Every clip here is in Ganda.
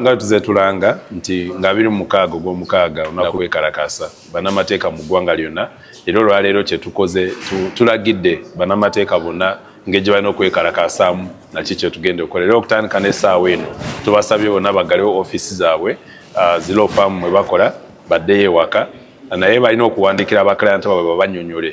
nga tuze tulanga nti nga abiri mu mukaaga ogw'omukaaga olunaku lwekalakasa banamateeka mu ggwanga lyonna era olwaleero kyetukoze tulagidde banamateeka bonna engeri gyebalina okwekalakasaamu naki kyetugenda okukola era okutandika n'essaawa eno tubasabye bonna baggalewo ofiisi zaabwe ah, zilofaamu mwe bakola baddeyo ewaka naye balina okuwandiikira abaklayanta babwe babanyonyole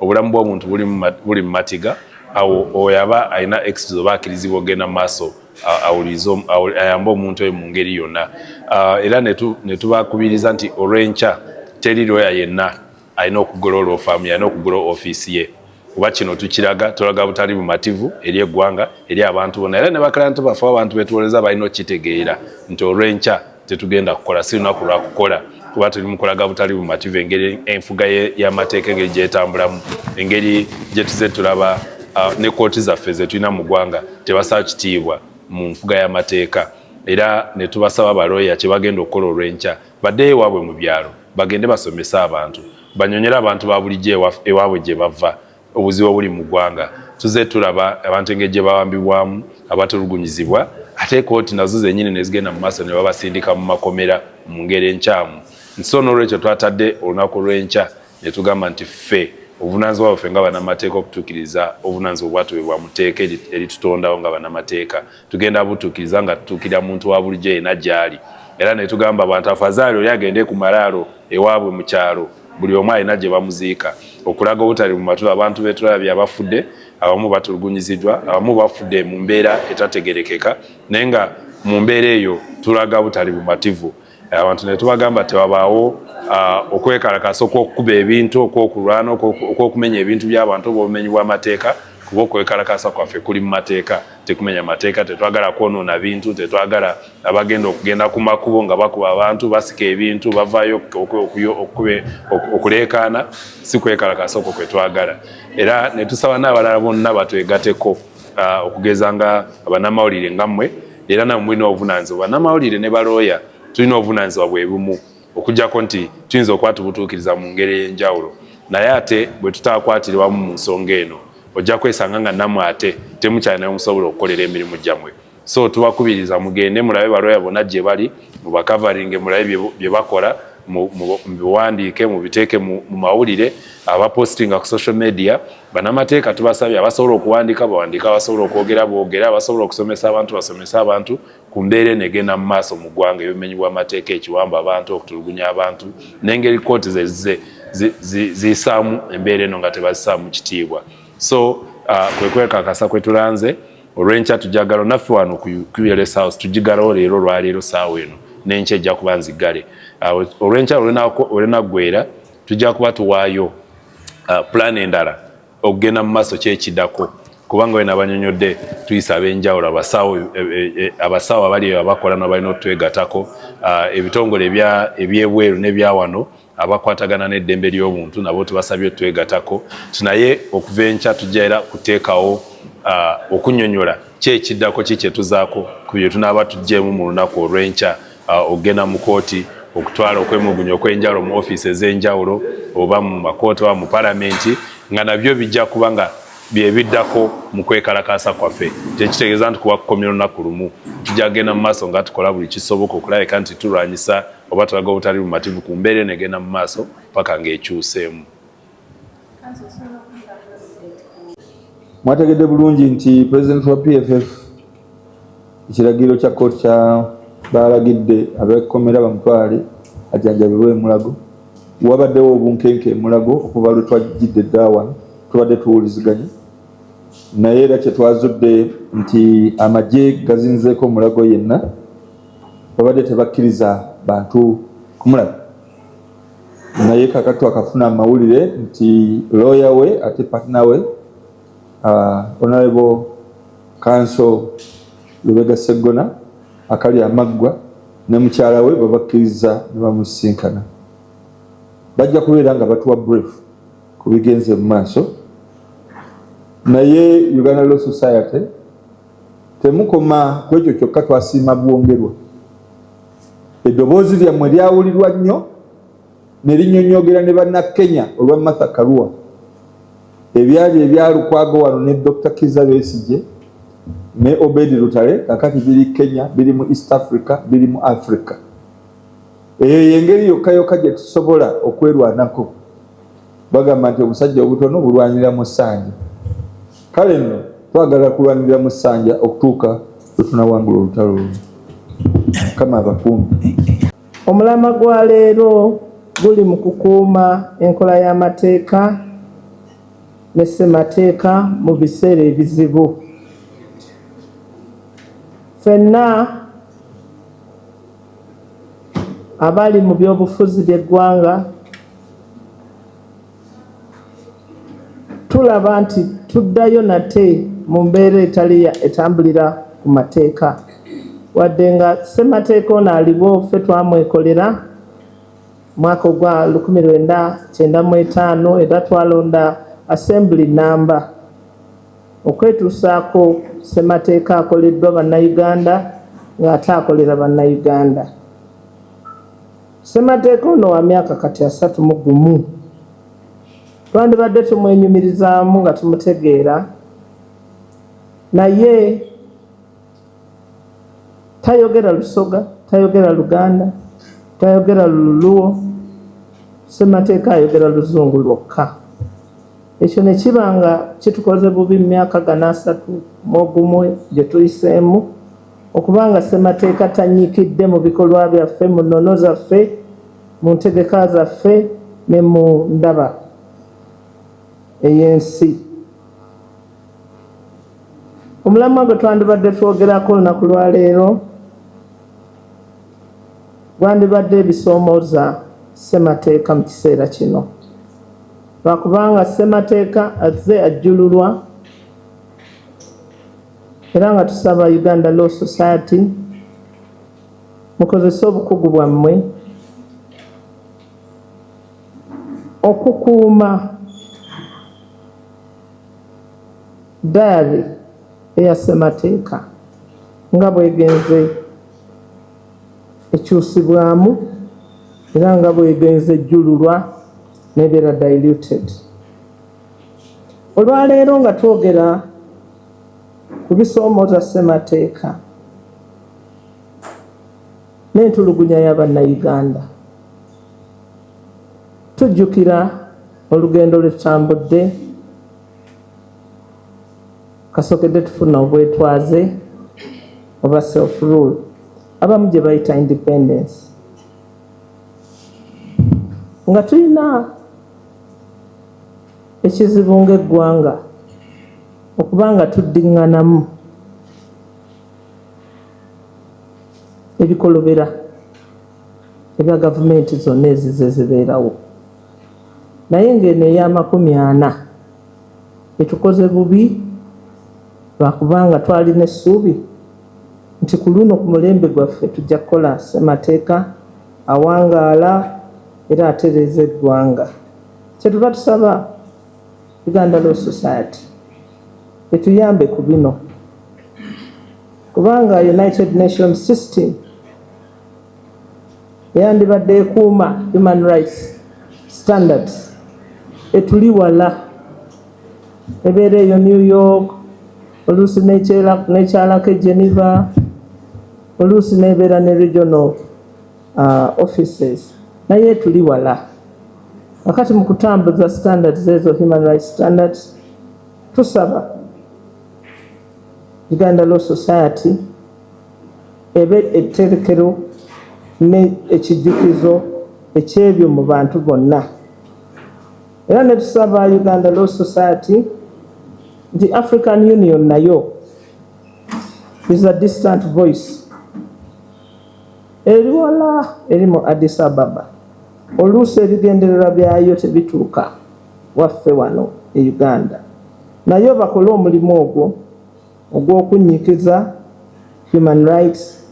obulamu bw'omuntu buli mu matiga awo oyo aba alina exit oba akirizibwa ogenda maaso ayambe omuntu oyo mu ngeri yonna era netubakubiriza nti olw'enkya teri lwoya yenna alina okugula olwofaamu yalina okugula ofiisi ye kuba kino tukiraga tulaga butali bumativu eri eggwanga eri abantu bona era ne bakalantu baffe abantu betuwoleza balina okukitegeera nti olw'enkya tetugenda kukola si lunaku lwakukola kuba tuli mukulaga butali bumativu engeri enfuga y'amateeka engeri gyetambulamu engeri gyetuze tulaba uh, ne kooti zaffe zetulina mu ggwanga tebasaa kitiibwa mu nfuga y'amateeka era ne tubasaba balooya kye bagenda okukola olw'enkya baddeyo ewaabwe mu byalo bagende basomese abantu banyonyere abantu ba bulijjo ewaabwe gye bava obuzibu obuli mu ggwanga tuze tulaba abantu engeri gye bawambibwamu abatulugunyizibwa ate kooti nazo zenyini nezigenda mu maaso ne babasindika mu makomera mu ngeri enkyamu nti so n'olwekyo twatadde olunaku lw'enkya ne tugamba nti ffe obuvunanyizibwa bwaffe nga banamateeka okutuukiriza obuvunanyizibwa obwatubebwa mu tteeka eritutondawo nga banamateeka tugenda butuukiriza nga tutuukirira muntu wa bulijjo yena gyali era netugamba abantu afazaali oli agende ku malaalo ewaabwe mu kyalo buli omu alina gye bamuziika okulaga obutali mu matu abantu betulabye abafudde abamu batulugunyiziddwa abamu bafudde mu mbeera etategerekeka naye nga mu mbeera eyo tulaga butali bumativu abantu ne tubagamba tewabaawo uh, okwekalakasa okwokukuba ebintu okwokulwana okwokumenya ebintu by'abantu oba obumenyi bw'amateeka kuba okwekalakasa kwaffe kuli mu mateeka tekumenya mateeka tetwagala kwonoona bintu tetwagala abagenda okugenda ku makubo nga bakuba abantu basika ebintu bavaayo okuleekaana si kwekalakasa okwo kwe twagala era ne tusaba n'abalala bonna batwegateko ah, okugeza nga abanamawulire nga mmwe era namwe mulina obuvunanyizibwa banamawulire ne balooya tulina obuvunanyizibwa bwe bumu okujjako nti tuyinza okwatubutuukiriza mu ngeri ey'enjawulo naye ate bwe tutaakwatirwamu mu nsonga eno ojja kwesanga nga namwe ate temukyalinayo musobola okukolera emirimu gyammwe so tubakubiriza mugende mulabe balooya bona gye bali mubakavaringe mulabe bye bakola mubiwandiike mubiteeke mu mawulire abapostinga ku social media banamateeka tubasabye abasobola okuwandiika bawandiika abasobola okwogera boogere abasobola okusomesa abantu basomese abantu ku mbeera eno egenda mu maaso mu ggwanga ebimenyi bw'amateeka ekiwamba abantu okutulugunya abantu n'engeri kooti zezze ziyisaamu embeera eno nga tebazisaamu kitiibwa so uh, kwekwekakasa kwetulanze olwenkya tujagalo naffe wano ku qls house tujigalawo leero olwaleero saawa eno nenkya ejja kuba nzigale olwenkya olwenaggwera tujja kuba tuwaayo uh, plan endala okugenda mu maaso kyekidako kubanga wena abanyonyodde tuyisa abenjawulo abasawo e, e, e, abasawo abali abakola nabalina otwegatako uh, ebitongole ebyebweru nebyawano abakwatagana n'eddembe ly'obuntu nabo tubasabye twegatako ti naye okuva enkya tujja era kuteekawo uh, okunyonyola ki ekiddako ki kyetuzaako ku bye tunaaba tuggyemu mu lunaku olw'enkya uh, okugenda mu kooti okutwala okwemugunya okwenjawulo mu ofiisi ez'enjawulo oba mu makooti oba mu palamenti nga nabyo bijja kuba nga byebiddako mu kwekalakaasa kwaffe kyekitegeeza nti kuba kukomya olunaku lumu tujja kugenda mu maaso nga tukola buli kisoboka okulabika nti tulwanyisa oba tulaga obutali bumativu ku mbeera eno egenda mu maaso paka ng'ekyuseemu mwategedde bulungi nti pulezidenti wa pff ekiragiro kya kooti kya baalagidde abekomera bamutwale ajanjabirwe emulago wabaddewo obunkenke emulago okuva lwe twajjidde eddawano tubadde tuwuliziganya naye era kyetwazudde nti amagye gazinzeeko omulago yenna babadde tebakkiriza bantu kumulaba naye kakati twakafuna amawulire nti looya we ate patna we uh, honorable kanso lubega seggona akali amaggwa ne mukyala we babakkiriza ne bamusisinkana bajja kubeera nga batuwa brief ku bigenze mu maaso naye uganda law society Temukoma ku ekyo kyokka, twasiima bwongerwa. Eddoboozi lyammwe lyawulirwa nnyo ne linnyonnyogera ne Bannakenya olwa Martha Karua. Ebyali ebya Lukwago wano ne Dokita Kizza Besigye ne Obedi Lutale kakati biri Kenya, biri mu East Africa, biri mu Africa. Eyo y'engeri yokka yokka gye tusobola okwerwanako. bagamba nti obusajja obutono bulwanira mu ssanja kale nno twagala kulwanirira mu ssanja okutuuka lwe tunawangula olutalo luno kama abakuumi omulama gwa leero guli mu kukuuma enkola y'amateeka ne ssemateeka mu biseera ebizibu fenna abali mu byobufuzi by'eggwanga tulaba nti tuddayo nate mu mbeera etali etambulira ku mateeka wadde nga ssemateeka ono aliwo ffe twamwekolera mwaka ogwa lukumi lwenda kyenda mu etaano era twalonda assembly namba okwetuusaako ssemateeka akoleddwa Bannayuganda ng'ate akolera Bannayuganda. Ssemateeka ono wa myaka kati asatu mu gumu twandibadde tumwenyumirizaamu nga tumutegeera naye tayogera lusoga tayogera luganda tayogera luluwo semateeka ayogera luzungu lwokka ekyo ne kiba nga kitukoze bubi mu myaka gana asatu mu ogumu gye tuyiseemu okuba nga ssemateeka tanyikidde mu bikolwa byaffe mu nnono zaffe mu ntegeka zaffe ne mu ndaba ey'ensi Omulamwa gwe twandibadde twogerako olunaku lwa leero gwandibadde ebisoomooza ssemateeka mu kiseera kino lwakubanga ssemateeka azze ajjululwa era nga tusaba uganda law society mukozese obukugu bwammwe okukuuma Dayali eya Ssemateeka nga bw'egenze ekyusibwamu era nga bw'egenze ejjululwa n'ebeera diluted. Olwaleero nga twogera ku bisoomooza Ssemateeka, n'entulugunya ya Bannayuganda. Tujjukira olugendo lwe tutambudde kasookedde tufuna obwetwaze oba self rule abamu gye bayita independence nga tulina ekizibu ng'eggwanga okuba nga tuddiŋŋanamu ebikolobera ebya gavumenti zonna ezize zibeerawo naye ng'eno ey'amakumi ana etukoze bubi lwakubanga twalina essuubi nti ku luno ku mulembe gwaffe tujja kukola ssemateeka awangaala era atereeza eggwanga kyetuva tusaba Uganda Law Society etuyambe ku bino kubanga United Nation System eyandibadde ekuuma human rights standards etuli wala ebeera eyo New York oluusi nekyalako e Geneva oluusi nebeera ne regional uh, offices naye tuli wala wakati mu kutambuza standards ezo human rights standards tusaba uganda law society ebe etterekero ne ekijjukizo ekyebyo mu bantu bonna era ne tusaba uganda law society nti african union nayo is a distant voice Eri wala eri mu Addis Ababa, oluusi ebigendererwa byayo tebituuka waffe wano e Uganda. Nayo bakole omulimu ogwo ogw'okunnyikiza Human Rights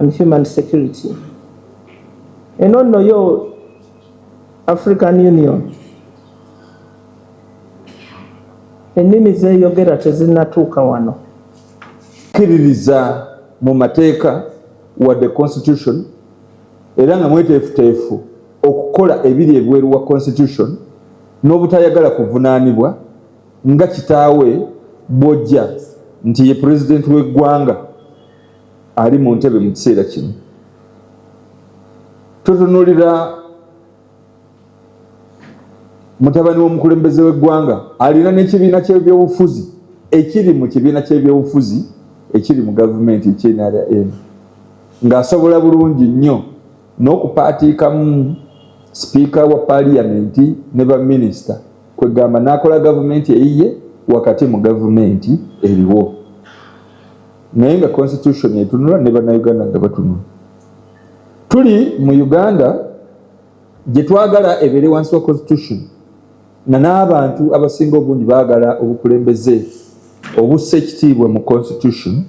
and Human Security. Eno nno yo African Union ennimi z'eyogera tezinnatuuka wano. kkiririza mu mateeka wadde constitution era nga mweteefuteefu okukola ebiri ebweru wa constitution n'obutayagala kuvunaanibwa nga kitaawe bwojja nti ye pulezidenti w'eggwanga ali mu ntebe mu kiseera kino totunulira mutabani w'omukulembeze w'eggwanga alina n'ekibiina ky'ebyobufuzi ekiri mu kibiina ky'ebyobufuzi ekiri mu gavumenti ekyenrm ng'asobola bulungi nnyo n'okupaatiikamu sipiika wa paliyamenti ne baminisita kwegamba n'akola gavumenti eyiye wakati mu gavumenti eriwo naye nga constitution etunula ne bannayuganda nga batunula tuli mu uganda gyetwagala ebeere wansi wa constitution nga n'abantu abasinga obungi baagala obukulembeze obussa ekitiibwa mu constitution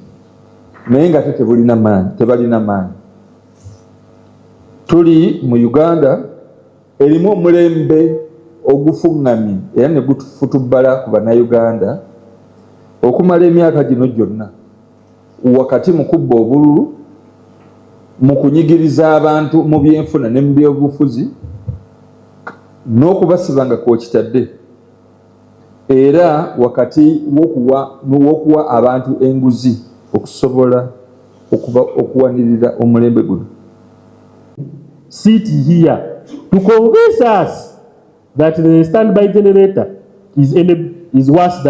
naye nga te tebulina maanyi tebalina maanyi tuli mu uganda erimu omulembe ogufuŋŋamye era ne gutufutubbala ku bannayuganda okumala emyaka gino gyonna wakati mu kubba obululu, mu kunyigiriza abantu mu byenfuna ne mu byobufuzi n'okubasiba nga kwokitadde era wakati w'okuwa abantu enguzi okusobola okuwanirira omulembe guno. Sit here to convince us that the standby generator is, is worse than